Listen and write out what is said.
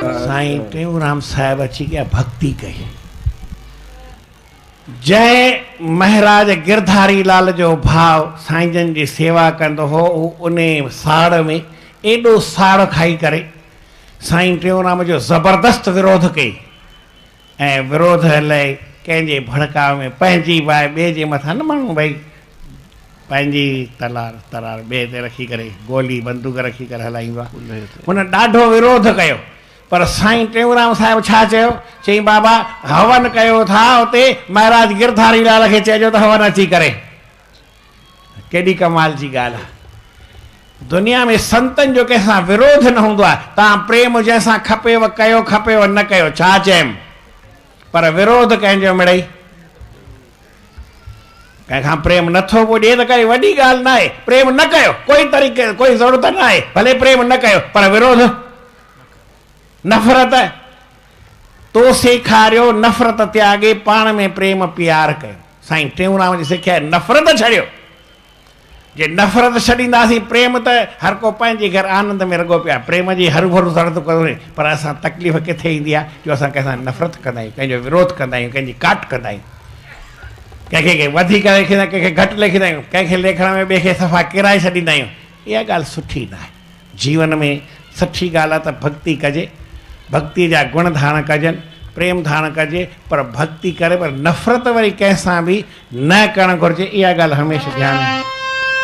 سائين ٽيئونرام صاحب اچي ڪا ڀڳتي ڪئي، جنهن مهراج گرڌاري لال جو ڀاء سائين جن جي سيوا ڪندو هو، هو انهي ساڙ ۾ ايڏو ساڙ کائي ڪري سائين ٽيئونرام جو زبردست وروڌ ڪئي. ۽ وروڌ لئه ڪنهن جي ڀڙڪاء ۾ پنهنجي باء ٻئي جي مٿان نه ماڻهو ڀئي پنهنجي تلار ترار ٻئي تي رکي ڪري گولي بندوق رکي ڪري هلائيندو آهي هن ڏاڍو وروڌ ڪيو پر سائين ٽيئونرام صاحب ڇا چيو چيائين بابا هون ڪيو ٿا اتي مهراج گرڌاري لال کي چئجو ته هون اچي ڪري. ڪيڏي ڪمال جي ڳالهه آهي. دنيا ۾ سنتن جو ڪنهن سان وروڌ نه هوندو آهي. توهان پريم جنهن سان کپيو ڪيو، کپيو نه ڪيو، ڇا چيم؟ پر وروڌ ڪنهن جو مڙئي ڪنهن کان پريم نٿو پڄي ته ڪائي وڏي ڳالهه نه آهي. پريم نه ڪيو، ڪوئي طريقي ڪوئي ضرورت نه آهي، ڀلي پريم نه ڪيو، پر وروڌ، نفرت، تو سيکاريو نفرت تياڳي پاڻ ۾ پريم پيار ڪيو. سائين ٽيئونرام جي سکيا نفرت ڇڏيو جي نفرت ڇڏينداسين پريم ته هر ڪو پنهنجي گهر آنند ۾ رڳو پيا پريم جي هرو ڀرو سرد ڪري پر اسان تڪليف ڪٿي ايندي آهي جو اسان ڪنهن سان نفرت ڪندا آهيون ڪنهن جو وروڌ ڪندا آهيون ڪنهن جي ڪاٽ ڪندا آهيون ڪنهن کي وڌيڪ ليکيندا ڪنهن کي گهٽ ليکيندا آهيون ڪنهن کي ليکڻ ۾ ٻئي کي صفا ڪيرائي ڇڏيندا آهيون اها ڳالهه سٺي نه آهي. جيون ۾ سٺي ڳالهه آهي ته ڀڳتي ڪجي، ڀڳتيء جا گڻ ڌاڻ ڪجن، پريم ڌاڻ ڪجي، پر ڀڳتي ڪري پر نفرت وري ڪنهن سان به نه ڪرڻ گهرجي، اها ڳالهه هميشه ڌيان ۾.